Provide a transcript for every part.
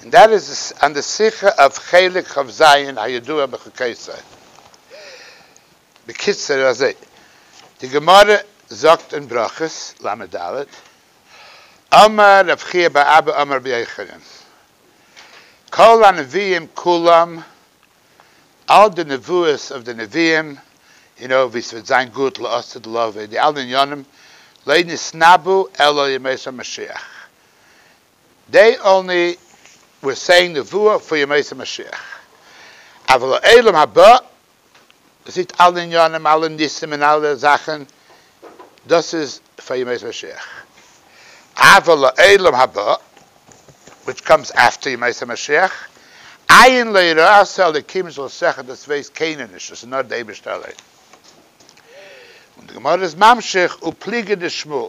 און דער איז א נסיכה אויף חלק כ ז הידוע בחוקי ישראל. בקיצור איז אזוי, די גמרא זאגט אין ברכות ל ד, אמר רב חייא בר אבא אמר רבי יוחנן, כל הנביאים כולם, אל די נבואות אויף די נביאים, און אויף ווי ס'וועט זיין גאט לעשות לו ודי אלע עניינים, לא נתנבאו אלא על ימות המשיח, דעי אנלי וויל סעי נבואה פאר ימות המשיח אבל לעולם הבא זעיט אלע עניינים אלע ניסים און אלע זאכען דאס איז פאר ימות המשיח אבל לעולם הבא וויטש קאמס עפטער ימות המשיח עיין ליראת האלוקים זאל שכל דאס ווייסט קיינער נישט דאס איז נאר די אייבישטער אליין און די גמרא איז ממשיך ופליגי דשמאל.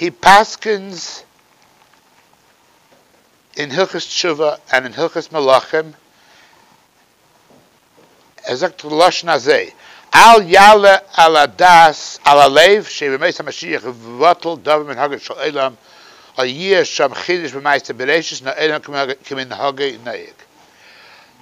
הי פסקנז אין הלכות תשובה און אין הלכות מלאכים, ער זאגט לשון הזה, אל יעלה על הדעת על הלב שבימות המשיח יבטל דבר מנהגו של עולם או יהיה שם חידוש במעשה בראשית און העולם כמנהגו נוהג.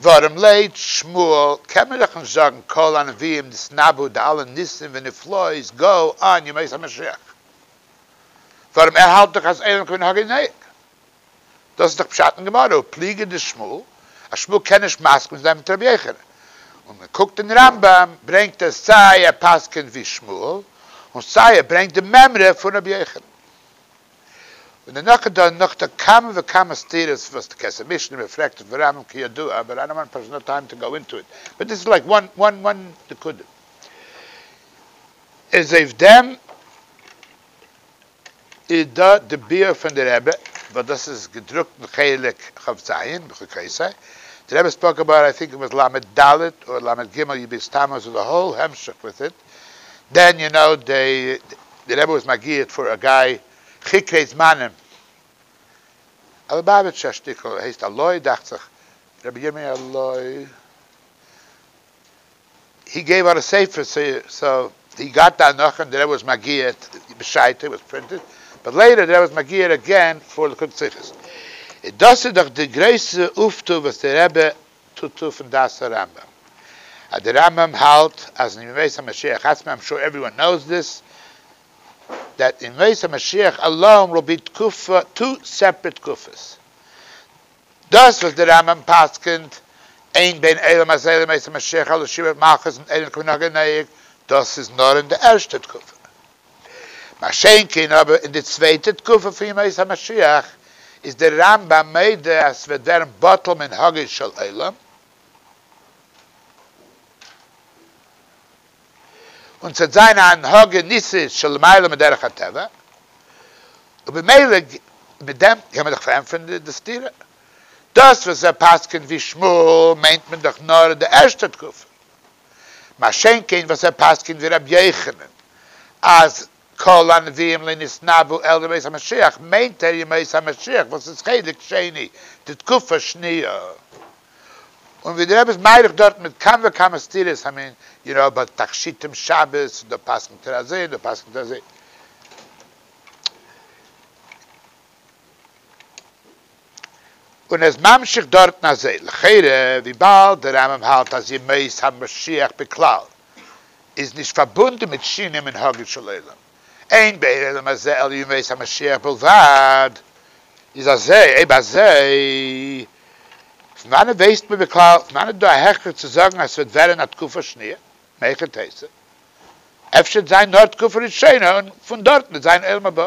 ווארום לית שמואל קען מען דאך נישט זאגן כל הנביאים נתנבאו די אלע ניסים ונפלאות גאו אן ימות המשיח, ווארום ער האלט דאך אז עירום כמנהגי נוהג, דאס איז דאך פשט אין גמרא ופליגי דשמואל אז שמואל קען נישט מסכים זיין מיט רבי יוחנן, און מען קוקט אין רמב ם ברענגט ער סיי ער פסק'נט ווי שמואל און סיי ער ברענגט די מימרא פון רבי יוחנן. און דערנאך איז דא נאך דא כמה וכמה סתירות וואס די כסא משנה ווען מען פרעגט אויף די רמב ם כידוע אבער איי דאנט וואנט פשוט נאו טיים טו גאו אינטו איט באט דיס איז לייק וואן וואן וואן נקודה איז אויף דעם איז דא די ביאור פון די רבי וואס דאס איז געדרוקט אין חלק ח ז בחו ק יסי די רבי איז פארקובאר איי טינק ער וואס ל ד אדער ל ג יב איז טעמא ז ל א האול המשך וויט איט. דען יו נאו די רבי וואס מגיהט פאר א גיי חוקרי זמנים א ליבאוויטשער שטיקל הייסט הלוי דאכט זיך רבי ירמי' הלוי הי געב אוט א ספר סאו הי גאט די הנחה אין די רבי וואס מגיהט בשעתו וואס פרינטעד באט לעיטער די רבי וואס מגיהט עגעין פאר ליקוט שיחות דאס איז דאך די גרויסע אויפטו וואס די רבי טוט אפן דעת הרמב ם אז די רמב ם האלט אז אין ימות המשיח עצמם, איים שור עווריוואן נאוס דיס, דעט אין ימות המשיח אליין וויל בי תקופה טו סעפרעט תקופות, דאס וואס די רמב ם פסק'נט אין בין עולם הזה לימות המשיח אלא שיעור מלכות און עליון כמנהג הנוהג, דאס איז נאר אין די ערשטע תקופה. מה שאין כן אבער אין די צווייטע תקופה פון ימות המשיח איז דער רמב ם מודה אז ס'וועט ווערן בטל מנהגו של עולם, און ס'וועט זיין א הנהגה ניסית שלמעלה מדרך הטבע, ובמילא מיט דעם קען מען דאך פארענטפערן די סתירה, דאס וואס ער פסק'נט ווי שמואל מיינט מען דאך נאר די ערשטע תקופה. מה שאין כן וואס ער פסק'נט ווי רבי יוחנן אז כל הנביאים לא נתנבאו אלא בימות המשיח מיינט ער ימות המשיח וואס איז חלק שני די תקופה שניה און ווי די רבי איז מאריך דארטן מיט כמה וכמה סתירות המין יראה בא תכשיטים שבת דא פסק'נט ער אזוי און דא פסק'נט ער אזוי. און איז ממשיך דארטן אזוי, לכאורה וויבאלד דער רמב ם האלט אז ימות המשיח בכלל איז נישט פארבונדן מיט שינוי מנהגו של עולם, אין באי העולם הזה אלא ימות המשיח בלבד, איז אזוי, אויב אזוי פון וואנעט ווייסט מען בכלל, פון וואנעט איז דא א הכרח צו זאגן אז ס'וועט ווערן א תקופה שניה, מהיכן תיתי, אפשר וועט זיין נאר תקופה ראשונה און פון דארטן וועט זיין עולם הבא.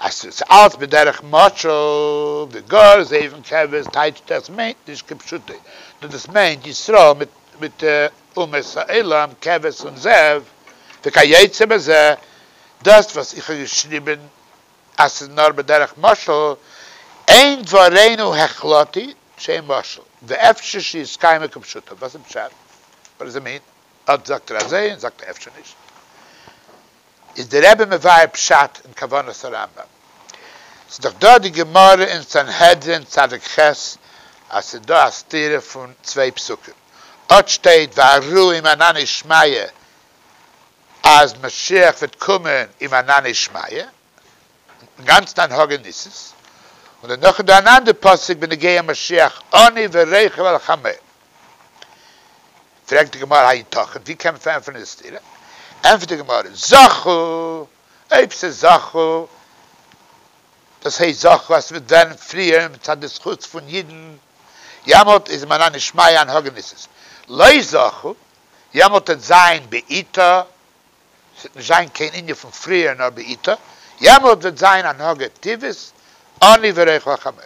אז ס'איז אלץ בדרך משל, ווי גאר זעבן קעווערס טייטשט דאס מיינט נישט כפשוטו, נאר דאס מיינט ישראל מיט מיט אומות העולם קעווערס און זאב, וכיוצא בזה, דאס וואס איך האב געשריבן אז ס'איז נאר בדרך משל, אין דברינו החלטי שאין משל, ואפשר שיסקיימו כפשוטו, וואס איז פשט? וואט דאס איט מין? אט זאגט ער אזוי און זאגט ער אפשר נישט. איז די רבי מבאר פשט און כוונת הרמב ם, ס'איז דאך דא די גמרא אין סנהדרין צדק ח' אז ס'איז דא א סתירה פון צוויי פסוקים, אט שטייט והראו עם ענני שמיא אז משיח וועט קומען עם ענני שמיא, אינגאנצן אן הג ע ניסן, און דערנאך איז דא אן אנדער פסוק בנוגע משיח אני ורכב על חמור, פרעגט די גמרא היתכן, ווי קען מען פארענטפערן די סתירה, ענטפערט די גמרא זכו, אויב ס'איז זכו, דאס הייסט זכו אז ס'וועט ווערן פריער מצד די זכות פון אידן, יעמאלט איז מנא נשמיא אן הג ע ניסן, לא זכו, יעמאלט וועט זיין בעיטה ס'וועט נישט זיין קיין ענין פון פריער נאר בעיטה, יעמאלט וועט זיין א נהג הטבעית עני וריח לחמור.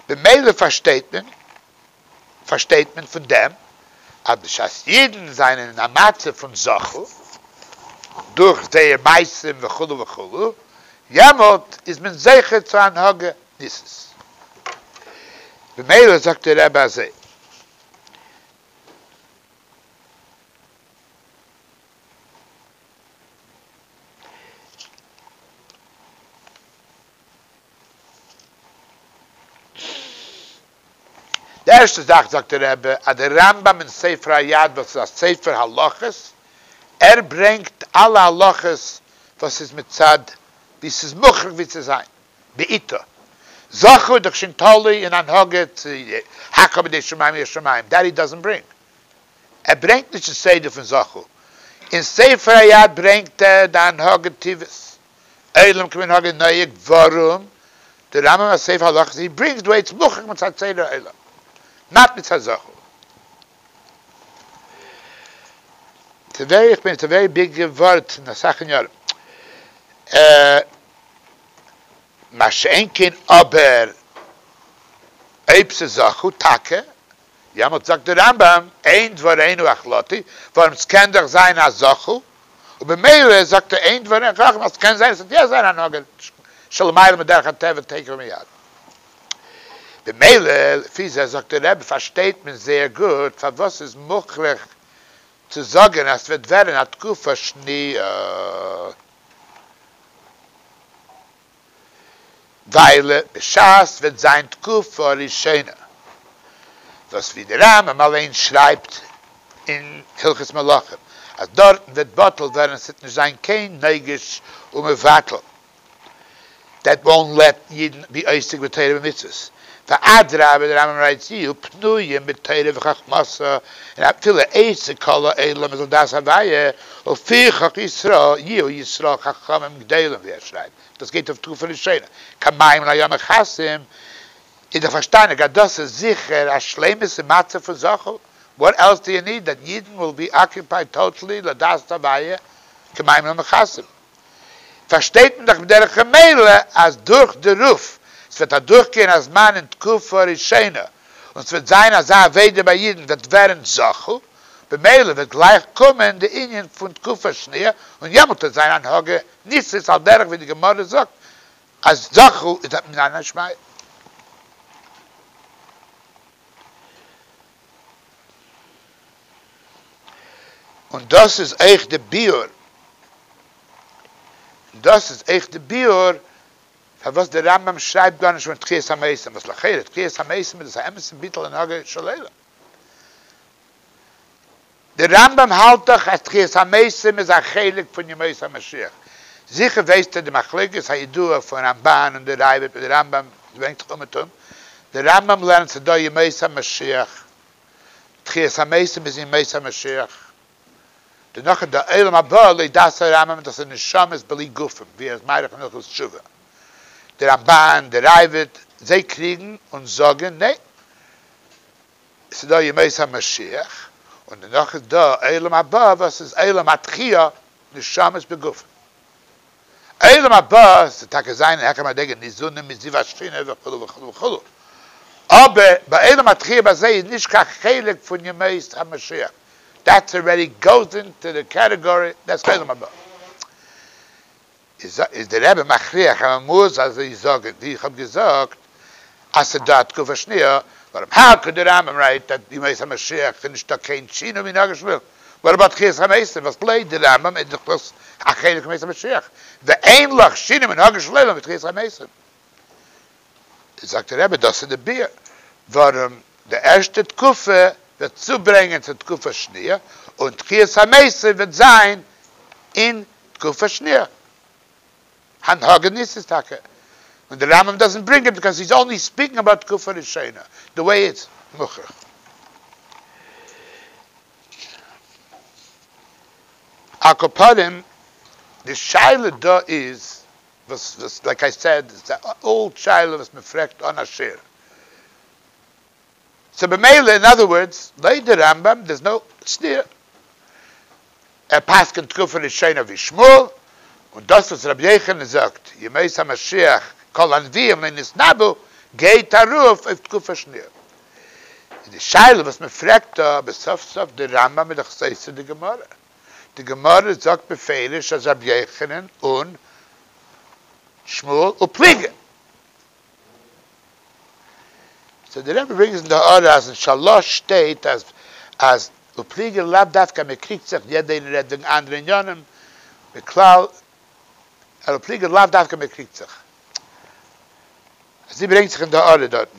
במילא פארשטייט מען פארשטייט מען פון דעם אז בשעת אידן זענען אין א מצב פון זכו דורך זייער מעשים וכו' וכו', יעמאלט איז מען זוכה צו הנהגה ניסית. במילא זאגט די רבי אזוי. די ערשטע זאך זאגט די רבי אז די רמב ם אין ספר היד וואס איז א ספר הלכות ער ברענגט אלע הלכות וואס איז מצד ווי ס'איז מוכרח ווי צו זיין בעיתו זכה איז דאך שוין תלוי אין הנהגה צו הקב ה די שמים יא שמים דעט הי דאזענט ברענג ער ברענגט נישט די סדר פון זכור, אין ספר היד ברענגט ער די הנהגה טבת, עולם כמנהגו נוהג, ווארום די רמב ם א ספר הלכות אי ברענגט דא עצם מוכח מצד סדר העולם, נאט מצד זכור. טברי' איך בין טברי' ביג ווארט אין אסאך אין יארן. מה שאין כן אבער אויב ס'איז זכור טאקע יעמאלט זאגט די רמב ם אין דברינו החלטי ווארום סקען דאך זיין א זכו ובמילא זאגט ער אין דברינו חכמה אז סקען זיין עס וועט יא זיין א נגע שלמעלה מדרך הטבע תיכף ומיד במילא לפי זה זאגט די רמב ם פארשטייט מען זייער גוט פארוואס סאיז מוכרח צו זאגען אז סוועט ווערען א תקופה שנויה. ווייל בשעת וועט זיין תקופה ראשונה, וואס ווי דער רמב ם אליין שרייבט אין הלכות מלכים אז דארטן וועט בטל ווערן, עס וועט נישט זיין קיין נוגש ומבטל, דעט וואונט לעט אידן בי עוסק בתורה ומצוות, ואדרבה דער רמב ם רייצט צו, פנויים בתורה וחכמתו, און אפילו עצה כל העולם איז על דעת אביי, ולפי חוק ישראל יהיו ישראל חכמים גדולים ווי ער שרייבט, דאס גייט אויף תקופה ראשונה, כמים לים מכסים, איז דאך פארשטאנעג אז דאס איז זיכער א שלימות אין מצב פון זחל, וואט עלס דו יו ניד דעט ידען וויל בי אקיופייד טאטעלי לדעת אביי, כמים לים מכסים. פארשטייט מען דאך בדרך המילא אז דורך די רוף ס'וועט אדורכגיין א זמן אין תקופה ראשונה און ס'וועט זיין אזא אבידה ביי אידן וועט ווערן זכו, במילא וועט גלייך קומען די ענין פון תקופה שניה און יעמאלט וועט זיין הנהגה ניסית על דרך ווי די גמרא זאגט אז זכו איז א מנין השמיא. און דאס איז אויך די ביאור, דאס איז אויך די ביאור פארוואס די רמב ם שרייבט גארנישט פון תחיית המתים, וואס לכאורה תחיית המתים איז דאס א אמת'ע ביטול הנהגה של עולם. די רמב ם האלט דאך אז תחיית המתים איז א חלק פון ימות המשיח, זיכער ווייסטו די מחלוקת הידועה פון רמבן און די ראבד מיט די רמב ם, עס ברענגט זיך אומעטום, די רמב ם לערנט ס'איז דא ימות המשיח, תחיית המתים איז ימות המשיח, דערנאך איז דא עולם הבא, לויט דעת הרמב ם דאס איז נשמות בלי גופים, ווי ער איז מאריך אין הלכות תשובה, די רמבן, די ראבד, זיי קריגן און זאגן ניין. עס איז דא ימות המשיח, און דערנאך איז דא עולם הבא וואס איז עולם התחייה, נשמות בגופים. עולם הבא זאל טאקע זיין אין העכער מדרגה ניזונים מזיו השכינה וכו' וכו' וכו', אבער ביי עולם התחייה ביי זיי איז נישט קיין חלק פון ימות המשיח, דעטס ארעדי גאוס אינטו די קעטעגארי דעטס עולם הבא. איז די רבי מכריח אז מען מוז אזוי זאגען ווי איך האב געזאגט אז ס'איז דא א תקופה שניה ווארום הא כ די רמב ם רייט אז בימות המשיח איז נישטא קיין שינו מנהגי שמואל ווארום אט תחיית המתים וואס לויט די רמב ם איז דאך דאס א חלק מימות המשיח ואין לך שינו מנהגי שמואל מיט תחיית המתים זאגט דער רבי דאס איז די ביאה ווארום די ערשטע תקופה וועט צוברענגען צו תקופה שניה, און תחיית המתים וועט זיין אין תקופה שניה. הנהגה ניסית איז טאקע און די רמב ם דאזענט ברענג איט ביקאויז היז אנלי ספיקינג אבאוט תקופה ראשונה די וועי איטס מוכרח. על כל פנים די שאלה דא איז וואס וואס לייק איי סעד איז א אולד שאלה וואס מען פרעגט אן א שיעור. סאו במילא אין אדער ווארדס לויט די רמב ם דער'ס נאו סתירה. ער פסק'נט תקופה ראשונה ווי שמואל, און דאס וואס רבי יוחנן זאגט ימות המשיח כל הנביאים לא נתנבאו גייט ארויף אויף תקופה שניה. איז די שאלה וואס מען פרעגט דא אבער סוף סוף די רמב ם איז דאך סותר די גמרא. די גמרא זאגט בפירוש אז רבי יוחנן און שמואל ופליגה. סאו די רבי ברענגט אין די הארה אז אין שלש שטייט אז אז ופליגה לאו דווקא אז מען קריגט זיך, יעדע איינער רעדט וועגן אנדערע עניינים, בכלל אז ופליגה לאו דווקא אז מען קריגט זיך. אזוי ברענגט זיך אין די הארה דארטן.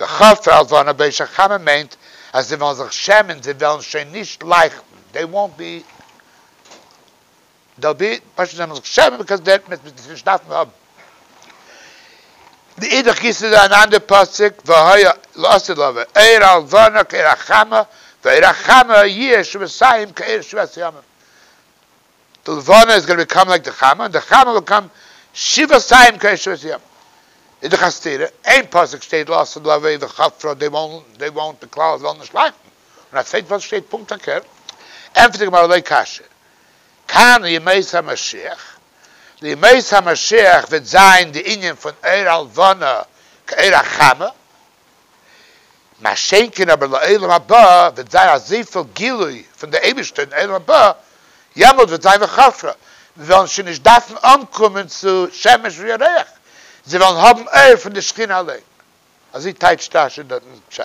וחסר הבנה בעיש הכמה מיינט אז זיי וועלן זיך שעמען, זיי וועלן שוין נישט לייכטן, דעי וואונט בי, דעל בי, פשוט זיי וועלן זיך שעמען ביקאוז דעי וועט עס נישט דארפן האבן. מאידך גיסא איז דא אן אנדער פסוק והיה לאסיר לבוא עיר הלבנה כעיר החמה ועיר החמה יהיה שביסיים כעיר שביעת ימים, די לבנה איז גאנע ביקאם לייק די חמה און די חמה וויל קאם שבעה סיים קעי שבעת ימים איז דאך א סתירה איין פסוק שטייט לאסט די עוועי די חב ד דעי וואנט די כלל זאל נישט לייכטן און א צווייטע פסוק שטייט פונקט פארקערט ענטפערט די גמרא לא קשיא כאן ימות המשיח לימות המשיח וועט זיין די ענין פון עור הלבנה כעור החמה מה שאין כן אבער לעולם הבא וועט זיין אזויפיל גילוי פון די אייבערשטער אין עולם הבא, יעמאלט וועט זיין וכפרא, מיר וועלן שוין נישט דארפן אנקומען צו שמש וירח, זיי וועלן האבן אור פון די שכינה אליין. אזוי טייטשט רש י דארט אין פשט.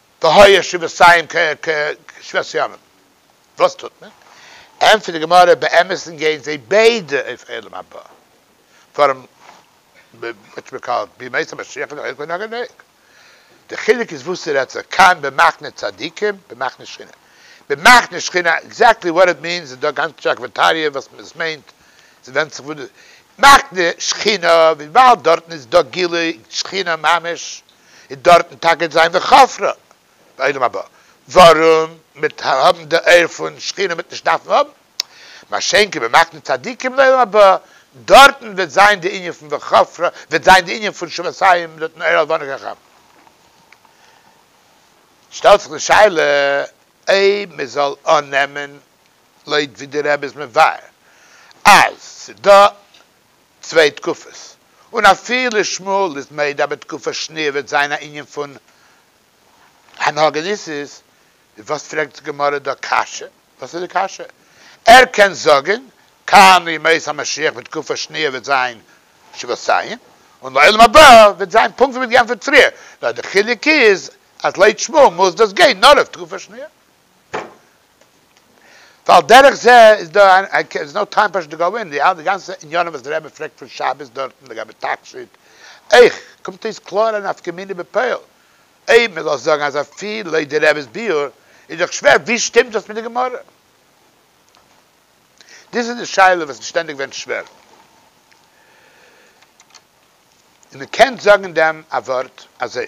ב ה ישוב סיון כ ק שבט ימים, וואס טוט מען? ענטפערט די גמרא, באמת'ן גייען זיי ביידע אויף עולם הבא, פארן וואטשמעקאלט בימות המשיח איז אויך געווען א געדענק, די חילוק איז וואס ס'רעדט זיך כאן במחנה צדיקים במחנה שכינה, במחנה שכינה עקזעקטלי וואט איט מיענס איז דא א גאנצע טשעק פון טעאריע וואס עס מיינט, ס'ווענדט זיך וואס די מחנה שכינה וויבאלד דארטן איז דא גילוי שכינה ממש, און דארטן טאקע זיין וכפרה בעולם הבא, ווארום מיט האבן די אויער פון שכינה מיט נישט דארפן האבן, מה שאין כן במחנה צדיקים לעולם הבא, דארטן וועט זיין די ענין פון וכפרה, וועט זיין די ענין פון שפתיים נותן אור על בנו כחכם. שטעלט זיך די שאלה אויב מען זאל אננעמען לויט ווי די רבי איז מבאר אז ס'דא צוויי תקופות, און אפילו שמואל איז מעיד אז בתקופת שניר וועט זיין א ענין פון הנהגה ניסית, וואס פרעגט די גמרא דא קשיא? וואס איז די קשיא? ער קען זאגען כאן ימות המשיח בתקופת שניר וועט זיין שבעת ציים, און לעולם הבא וועט זיין פונקט ווי מען האט געענטפערט פריער, נאר די חילוק איז אז לויט שמואל מוז דאס גיין נאר אויף תקופת שניר. ועל דרך זה איז דא איין איי קען נאו טיים פשוט טו גאו אין די אלע גאנצע עניינים וואס די רבי פרעגט פון שבת דארטן לגבי תכשיט אויך קומט אויס קלאר א נפקא מינה בפועל אויב מען זאל זאגן אז אפי' לויט די רב'ס ביאור איז דאך שווער ווי שטימט דאס מיט די גמרא? דאס איז די שאלה וואס איז שטענדיג ווען שווער און מען קען זאגן דעם א ווארט אזוי.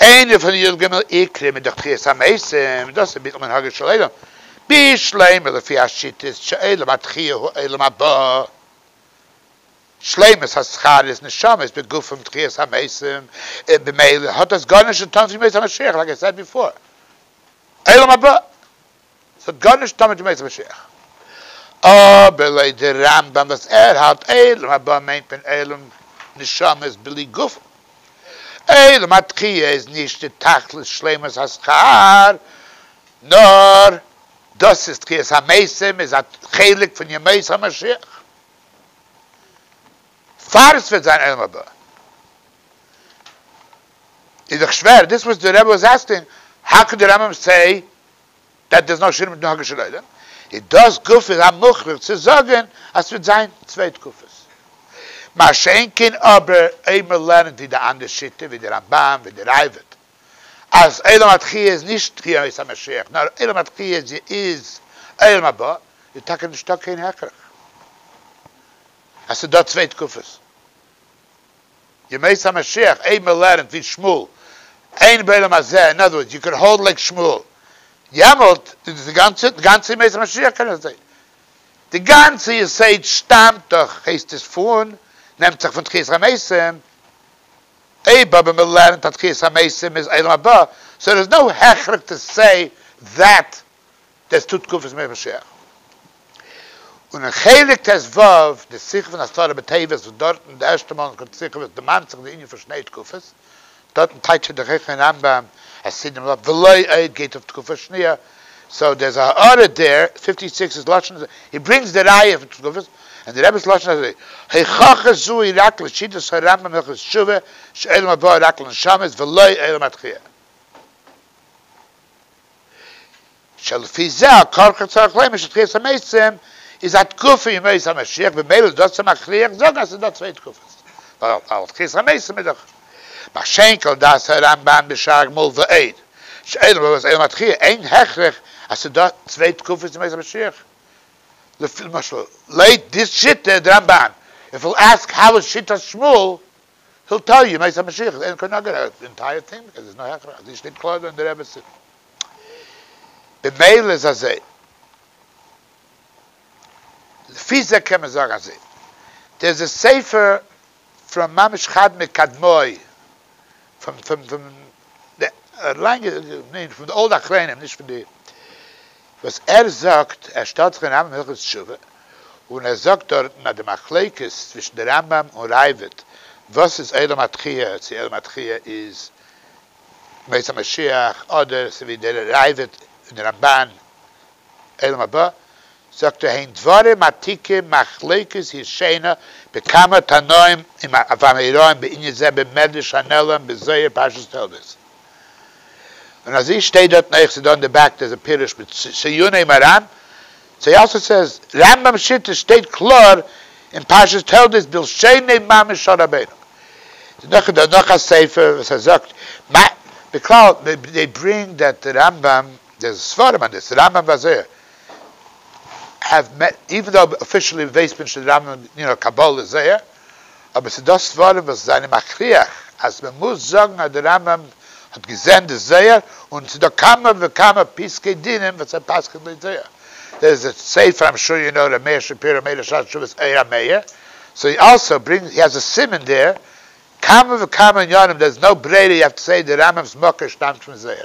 איינע פון די י ג עיקרים איז דאך תחיית המתים, דאס איז ביטול מנהגו של עולם בשלימות לפי השיטות שעולם התחייה הוא עולם הבא, שלימות הזכרית נשמות בגופם תחיית המתים, און במילא האט דאס גארנישט צו טון פון ימות המשיח לייק איי סעד ביפאר, עולם הבא. עס האט גארנישט טאן מיט ימות המשיח. אבער לויט די רמב ם וואס ער האלט עולם הבא מיינט מען עולם נשמות בלי גוף. עולם התחייה איז נישט די תכלית שלימות השכר, נאר דאס איז תחיית המתים איז א חלק פון ימות המשיח. פאר עס וועט זיין עולם הבא איז דאך שווער, דאס וואס די רבי איז אסק'נן, האו קען די רמב ם סעי וועט דאס נאר שערן מיטן הגה של עולם, איז דאס גופא א מוכרח צו זאגן אז ס'וועט זיין צוויי תקופות. מה שאין כן אבער אויב מ'לערנט ווי די אנדערע שיטה, ווי די רמב ם, ווי די ראבד, אז עולם התחי' איז נישט בימות המשיח נאר עולם התחי' איז עולם הבא, איז טאקע נישטא קיין הכרח אז ס'דא צוויי תקופות. ימות המשיח אייב מען לערנט ווי שמואל אין בעולם הזה, אין אנדער ווארט יו קען האלד לייק שמואל יעמאלט איז דאס די גאנצע, די גאנצע ימות המשיח קען איך זעהן, די גאנצע יסוד שטאמט דאך הייסט עס פון, נעמט זיך פון תחיית המתים, אויב אבער מען לערנט אז תחיית המתים איז עולם הבא, סאו דער איז נאו הכרח טו סעי דעט טז טו תקופת מלך משיח, און אין חלק טז ו די שיחה פון עשרה בטבת וואס דארטן די ערשטע מאל אין סקולפט שיחה וואס דערמאנט זיך די ענין פון שני תקופות, דארטן טייטשט ער די חכמי הרמב ם, חסידים לאו, ולא עוד גייט אויף תקופה שניה, סאו דער איז א הערה דער, פיפטי סיקס איז לשון ז, הי ברינגס די ראיה פון תקופות, און די רב'ס לשון איז אזוי, הוכחה זו היא רק לשיטת הרמב ם הלכות תשובה שעולם הבא רק לנשמות ולא עולם התחייה. שלפי זה הכל חצורך לומר שתחיית המתים איז א תקופה ימות המשיח במילא דאס צו מכריח זאגן אז ס'איז דא צוויי תקופות ווייל תחיית המתים איז דאך מה שאין כן דעת הרמב ם בשער הגמול ועוד שאלה וואס איז עילום התחייה אין הכרח אז ס'איז דא צוויי תקופות ימות המשיח למשל לויט די שיטה דרמב ן איף יו עסק האו איז שיטת שמואל היל טעל יו מעת המשיח איז אין קען נאר געהערט די אינטייער טינג ביז עס איז נאך העכער אז די שטיק קלויבער און די רעבעצין במילא איז אזוי לפי זה קען מען זאגן אזוי דער איז א ספר פון ממש חד מקדמי פון פון פון די לאנגע פון די אלד אחרונים נישט פון די. וואס ער זאגט, ער שטעלט זיך אין רמב ם הלכות תשובה, און ער זאגט דארטן אז די מחלוקת צווישן די רמב ם און ראבד וואס איז עולם התחייה, צו עולם התחייה איז מות המשיח אדער צו ווי דער ראבד און די רמבן עולם הבא, זאגט ער הן דברים עתיקים מחלוקת ישנה בכמה תנאים עם אבן הארון בענין זה במדרש הנעלם בזוהר פרשת תולדות. און אז איר שטייט דארטן אויך ס'איז דא אין די בעק דאס א פירוש מיט ציוני מרן צו יאסל סערס רמבם שיטה שטייט קלאר אין פרשת תולדות בלשוני מאמר של רבינו דערנאך איז דא נאך א ספר וואס ער זאגט מה בכלל זיי ברענגט דעט די רמבם די ספרים און דאס רמבם ווייל זיי האב איווען דאו אפישעלי ווייסט מען נישט די רמבם ניו יארק קבלה איז זייער. אבער ס'איז דא ספרים וואס זענען מכריח אז מ'מוז זאגן אז די רמב ם האט געזען די זוהר, און ס'איז דא כמה וכמה פסקי דינים וואס ער פסק'נט לויט זוהר. דער איז דער ספר המשורין אור ר' מאיר שפירא מעלה שער תשובות אור המאיר, סאו הי אלסאו ברינגס הי האז' א סימן דער, כמה וכמה עניינים דער איז נאו בריירא יו האוו טו סעי די רמב ם'ס מקור שטאמט פון זוהר.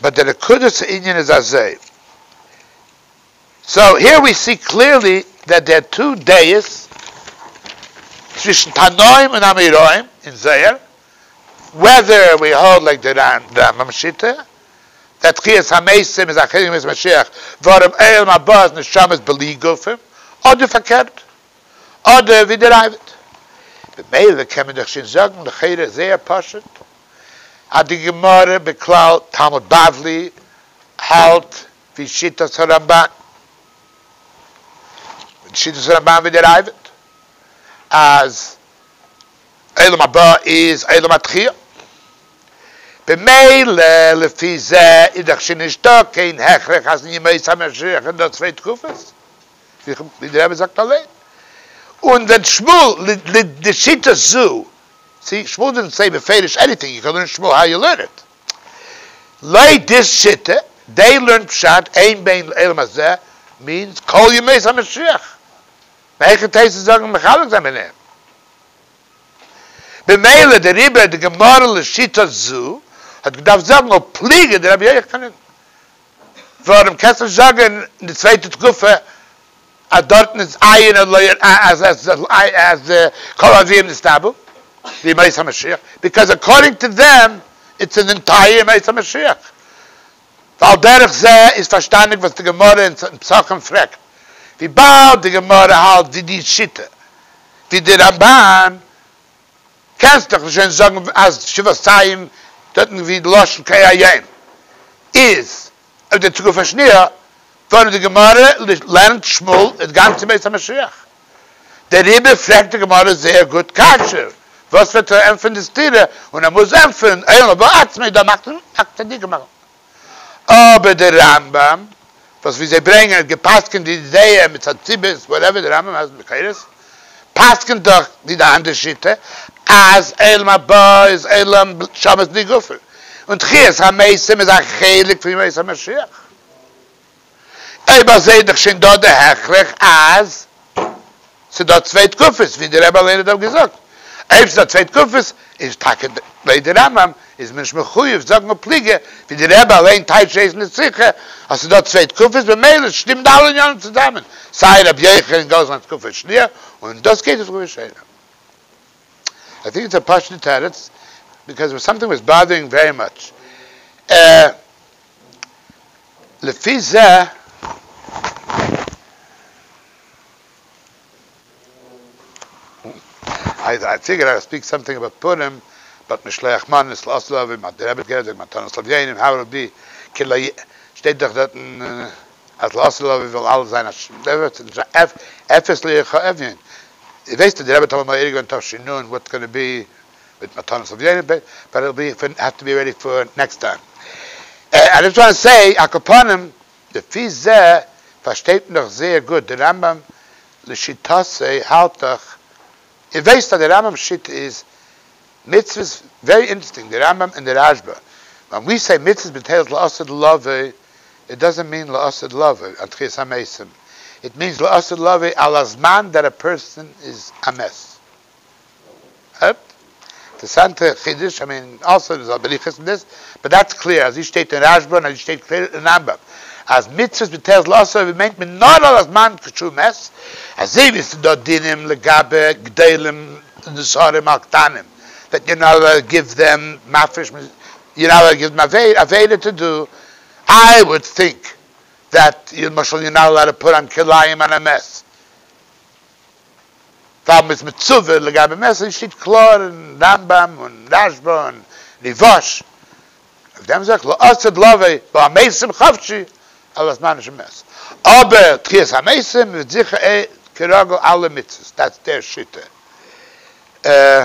באט די נקודת הענין איז אזוי, סאו העיר ווי סי קליערלי דעט דער איז טו דעות צווישן תנאים און אמוראים אין זוהר, וועדער ווי האלד לייק די רמבם שיטה דעט תחיית המתים איז א חלק מימות המשיח ווארום עולם הבא איז נשמות בלי גופים, אדער פארקערט, אדער ווי די ראבד. ממילא קען מען דאך שוין זאגן לכאורה זייער פשוט. אז די גמרא בכלל תלמוד בבלי האלט ווי שיטת הרמבן, און שיטת הרמבן ווי דער אייוועלט אז עולם הבא איז עולם התחי', במילא לפי זה איז דאך שוין נישטא קיין הכרח אז אין ימות המשיח איז דא צוויי תקופות, ווי דער רבי זאגט אליין, און ווען שמואל לשיטה זו, צי שמואל דאזנט סעי בפירוש עניטינג יו קען לערן שמואל האו יו לערן איט, לויט די שיטה דעי לערן פשט אין בין לעולם הזה מיענס כל ימות המשיח, מהיכן תעשה זאגן מחלק זיין ביניהם? במילא דער רבי די גמרא לשיטה זו האט געדארפט זאגן ופליגי דרבי יוחנן. ווארום קענסט נישט זאגן אין די צווייטע תקופה אז דארטן איז עיין און לא ירא אז אז כל הנביאים נסתלבו בימות המשיח ביקאויז אקארדינג טו דעם איטס אן ענטייר ימות המשיח ועל דרך זה איז פארשטאנדיג וואס די גמרא אין פסחים פרעגט וויבאלד די גמרא האלט ווי די שיטה ווי די רמבן קענסט דאך נישט ווען זאגן אז שבעת טעמים דארטן ווי די לשון קה היום איז אויף די תקופה השנייה ווארום די גמרא לערנט שמאל איז גאנץ ביאת המשיח דעריבער פרעגט די גמרא זייער גוט קשיא וואס וועט ער ענטפערן די סתירה און ער מוז ענטפערן עולם הבא עצמי דאן מאכט ער א צדיק גמרא אבער דער רמב ם וואס ווי זיי ברענגען האט געפסקענט די זעה מיט א ציבעס וואטעווער דער רמב ם אז מקורות פסקענט דאך ווי די אנדערע שיטה אז עולם הבא איז עולם שבת בלי גופים און תחיית המתים איז א חלק פון ימות המשיח. אויב איך זעה דאך שוין דא די הכרח אז ס'דא צוויי תקופות ווי די רבי אליין האט געזאגט, אויב ס'דא צוויי תקופות איז טאקע לויט די רמב ם איז מען נישט מחויב זאגן א פלוגה ווי די רבי אליין טייטשט דאס אין די שיחה אז ס'דא צוויי תקופות במילא שטימט די אלע עניינים צוזאמען סיי רבי יוחנן און גאר זיין תקופה שניה און דאס גייט אויס רבי שיירא. איי טינק איטס א פשוטע תירוץ, ביקאוז סאמטינג וואס באדערינג ווערי מאטש. לפי זה איי פיגער אוט ספיק סאמטינג אבאוט פורים באט משלוח מנות לאסט דא אווי מ'האט גערעדט גערעדט מתנות אויף יענעם הבל ב כ ל שטייט דאך דארטן אז לאסט דא אווי וויל אלעס זיין א ש ד וועט נישט זיין עפעס ליעכע עווין איר ווייסט אז די רבי האט אמאל מעיר געווען תשי נ וואטס גאנע בי מיט מתנות אויף יענעם טאג, באט איט'ל בי, האסט טו בי רעדי פאר נעקסט טיים. איי דזשאסט וואנט טו סעי, על כל פנים, לפי זה פארשטייט מען דאך זייער גוט די רמב ם, לשיטתו האלט דאך, איר ווייסט אז די רמב ם'ס שיטה איז מצוות, ווערי אינטערעסטינג, די רמב ם און די רש ב, ווען ווי סעי מצוות מ'טיילט לעשה דלעבי', איט דאזענט מיען לעשה דלעבי' אן תחיית המתים, איט מיענס לעשה דלעבי' על הזמן דעט א פערסאן איז א מת. אינטערעסאנטע חידוש, איך מיין אלסא מען זאל בריכות אין דעס, באט דעטס קלער אז אי שטייט אין רשבא און אי שטייט קלער אין רמב ם אז מצוות מיט היתר זאל אסור ווען מיינט מען נאר על הזמן כשהוא מת, אזוי ווי עס איז דא דינים לגבי גדולים נזהרים על קטנים דעט יור נאט אלאוד גיוו דעם מפריש מ יור נאט אלאוד גיוו דעם עבירה טו דו, איי וואלד טינק דעט למשל יור נאט אלאוד פאר אן כלאיים אן א מעס. פאר מען איז מצווה לגבי מעשר שטייט קלאר אין רמב ם און רש ב און ריבש אויף דעם זאגט לא עשה דלוה ב א מעשר חפשי אלא זמן של מעשר אבער תחיית המתים איז זיכער ע כ רגל אלע מצוות דאטס דער שיטה אה.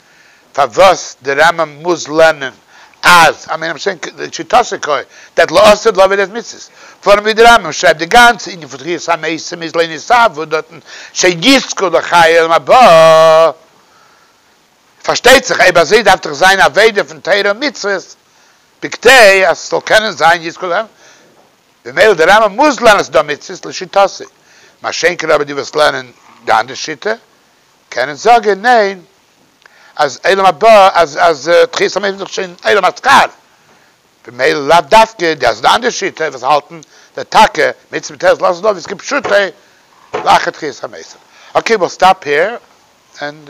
פארוואס די רמב ם מוז לערנען אז שיטתו כ ד לאסרט לעווי די מצוות, פארן ווי די רמב ם שרייבט די גאנצע ענין פון תחיית המתים איז לנסב ו דארטן שיזכו לחיי עולם הבא, פארשטייט זיך אויב אזוי דארף דאך זיין עבידה פון תורה און מצוות בכדי אז ס'זאל קענען זיין יזכו לחיי עולם הבא, ממילא די רמב ם מוז לערנען אז ס'דא מצוות לשיטתו, מה שאין כן אבער די וואס לערנען די אנדערע שיטה קענען זאגען ניין אז עולם הבא אז אז תחיית המתים איז דאך שוין עולם השכר במילא לאו דווקא די אז די אנדערע שיטה וואס האלטען די טאקע מצוה מיט תועלת לאזען אויף איז כפשוטו לאחר תחיית המתים אקעי וויל סטאפ העיר ענד.